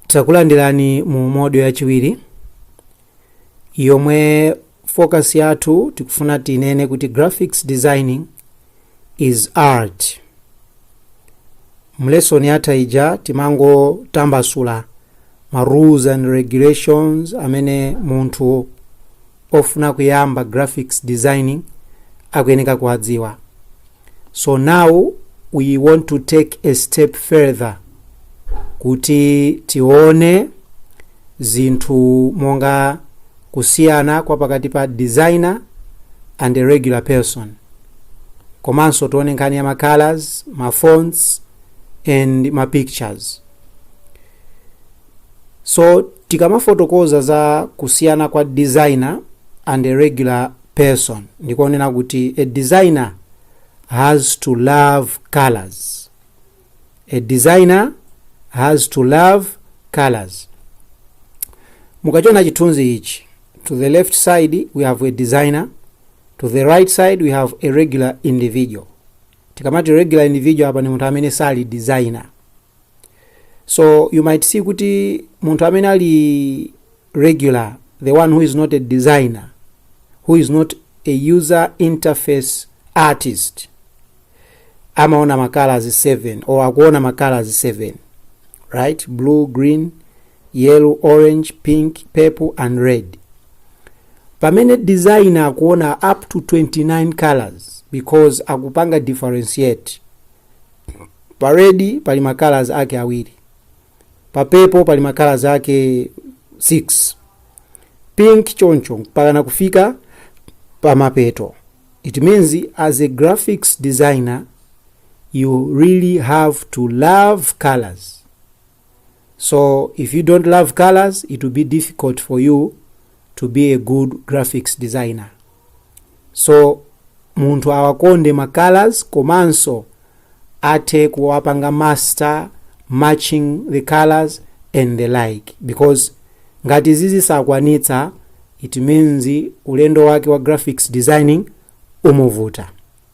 takulandirani mu module yachiwiri yomwe focus yathu tikufuna tinene kuti graphics designing is art mu lesson yatha ija timangotambasula ma rules and regulations amene munthu ofuna kuyamba graphics designing akuyeneka kuwadziwa So now we want to take a step further kuti tione zinthu monga kusiyana kwa pakati pa designer and a regular person komanso tione nkhani ya ma colors ma fonts and ma pictures so tikamafotokoza za kusiyana kwa designer and a regular person ndikonena kuti a designer has to love colors a designer has to love colors mukachona chithunzi ichi to the left side we have a designer to the right side we have a regular individual tikamati regular individual apa ni munthu amene sali designer so you might see kuti munthu amene ali regular the one who is not a designer who is not a user interface artist amaona ma colors 7 or akuona ma colors 7 right blue green yellow orange pink purple and red pamene designer akuona up to 29 colors because akupanga differentiate Pa red pali ma colors ake awiri. Pa purple pali ma colors ake 6. Pink choncho mpakana kufika pa mapeto. It means as a graphics designer you really have to love colors. So if you don't love colors, it will be difficult for you to be a good graphics designer. So munthu awakonde ma colors komanso athe kuwapanga master matching the colors and the like because ngati izi sakwanitsa it means ulendo wake wa graphics designing umuvuta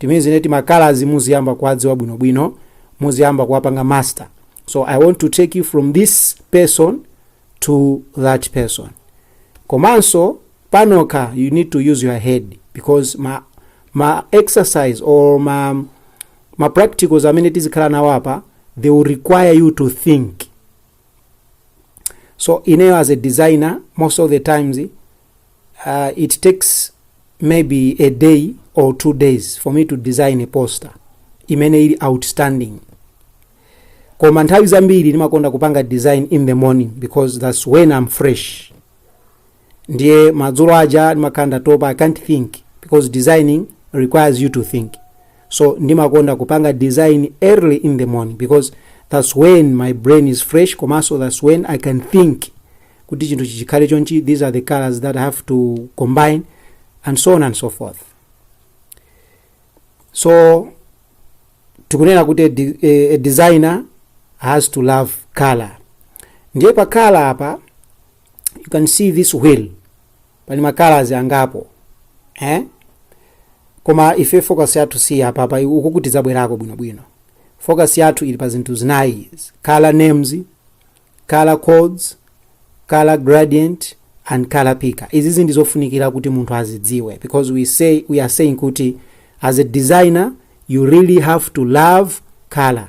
it means kuti ma colors muziyamba kuwadziwa bwinobwino muziyamba kuwapanga master so i want to take you from this person to that person komanso panokha you need to use your head because ma, ma exercise or ma, ma practicals amene tizikhala nawo apa they will require you to think so ineyo as a designer most of the times uh, it takes maybe a day or two days for me to design a poster imene ili outstanding koma nthawi zambiri ndimakonda kupanga design in the morning because that's when i'm fresh ndiye madzulo aja ndimakhala ndatopa i can't think because designing requires you to think so ndimakonda kupanga design early in the morning because that's when my brain is fresh komanso that's when i can think kuti chinthu ichi chikhale chonchi these are the colors that i have to combine and so on and so forth so tikunena kuti a, de- a, a designer has to love color ndiye pa color apa you can see this wheel pali ma colors angapo eh? koma ife focus yathu si apa pa uku kuti zabwerako bwinobwino focus yathu ili pa zinthu zinayi izi. color names color codes color gradient and color picker izizi ndi zofunikira kuti munthu azidziwe because we say we are saying kuti as a designer you really have to love color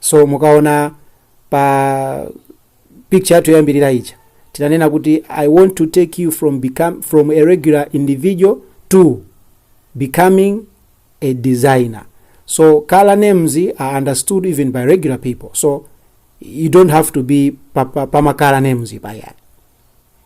so mukaona pa picture yathu yoyambirira ija tinanena kuti i want to take you from, become, from a regular individual to becoming a designer so color names are understood even by regular people so you don't have to be pa, pa, pa ma color names payani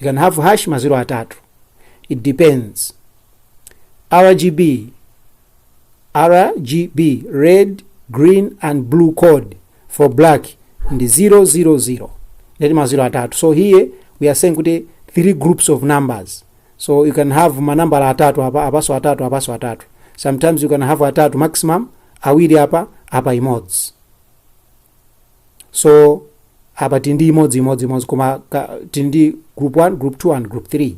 you can have hash maziro atatu it depends rgb rgb red green and blue code for black ndi 000 ndeti maziro atatu so here we are saying kuti three groups of numbers so you can have manambala atatu apa apaso atatu apaso atatu sometimes you can have atatu maximum awiri apa apa imodzi so apa tili ndi imodzi imodzi imodzi koma ka- tili ndi group 1 group 2 and group 3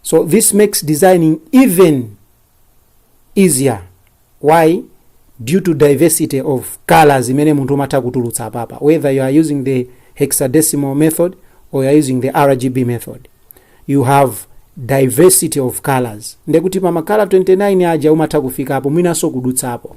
so this makes designing even easier why due to diversity of colors imene munthu umatha kutulutsa apapa whether you are using the hexadecimal method or you are using the rgb method you have diversity of colors ndekuti pa ma color 29 aja umatha kufikapo mwinanso kudutsapo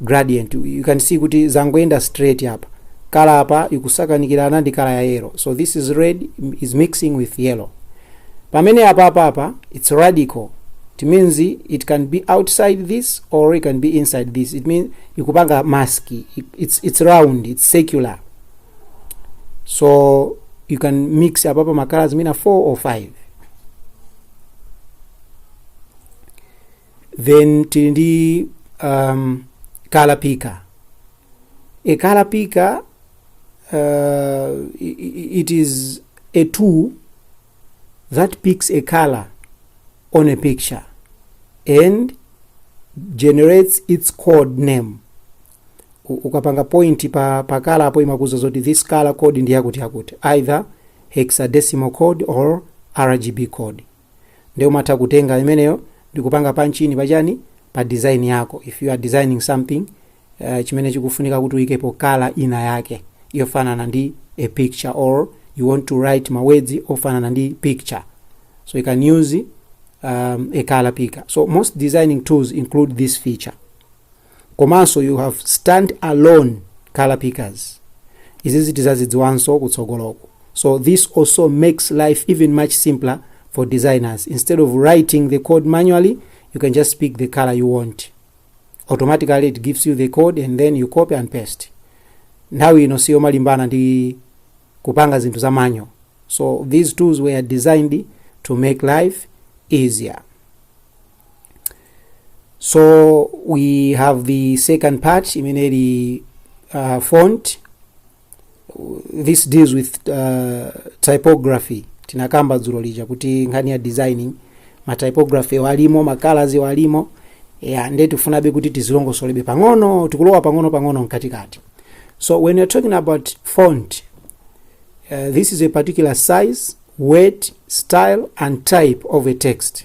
gradient you can see kuti zangoyenda straight apa kala apa ikusakanikirana ndi kala ya yellow so this is red is mixing with yellow pamene apa apa apa it's radical it means it can be outside this or it can be inside this it means ikupanga mask it's, it's round it's secular so you can mix apa pa makala zimene 4 or 5 then tili ndi um, color picker a color picker uh, i- i- it is a tool that picks a color on a picture and generates its code name U- ukapanga point pa, pa color apo imakuza zoti this color code ndi yakuti yakuti either hexadecimal code or rgb code nde umatha kutenga imeneyo ndikupanga panchini pachani pa design yako if you are designing something uh, chimene chikufunika kuti uyikepo color ina yake yofanana ndi a picture or you want to write mawedzi ofanana ndi picture so you can use um, a color picker so most designing tools include this feature komanso you have stand alone colour pickers izizi tizazidziwanso kutsogoloku so this also makes life even much simpler for designers instead of writing the code manually you can just pick the color you want automatically it gives you the code and then you copy and paste nthawi ino siyomalimbana ndi kupanga zinthu za manyo so these tools were designed to make life easier so we have the second part imene ili uh, font this deals with uh, typography tinakamba dzulo lija kuti nkhani ya designing ma typography alimo ma colors alimo yeah, nde tifunabe kuti tizilongosolebe pang'ono tikulowa pang'ono pang'ono mkatikati so when you're talking about font uh, this is a particular size weight style and type of a text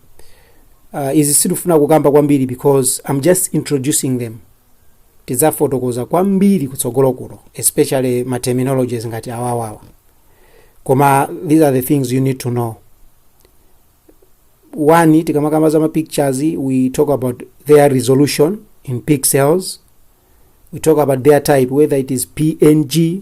uh, izi sitifuna kukamba kwambiri because i'm just introducing them tidzafotokoza kwambiri kutsogoloko especially ma terminologies ngati awawawa koma these are the things you need to know one tikamakamba za mapictures we talk about their resolution in pixels we talk about their type whether it is png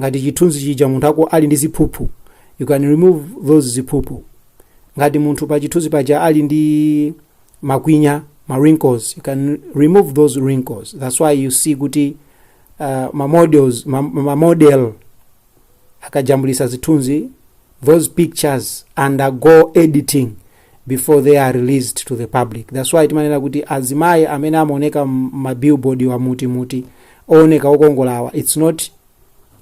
ngati chithunzi chija munthu ako ali ndi ziphuphu you can remove those ziphuphu ngati munthu pa chithunzi paja ali ndi makwinya ma wrinkles you can remove those wrinkles that's why you see kuti uh, ma models ma, ma model akajambulisa zithunzi those pictures undergo editing before they are released to the public that's why timanena kuti azimayi amene amaoneka mmabillboard wa muti muti ooneka okongolawa it's not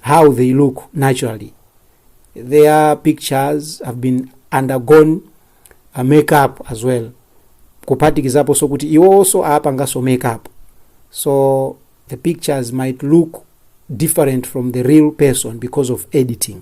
how they look naturally their pictures have been undergone a makeup as well kuphatikizaponso kuti iwonso apanganso makeup so the pictures might look different from the real person because of editing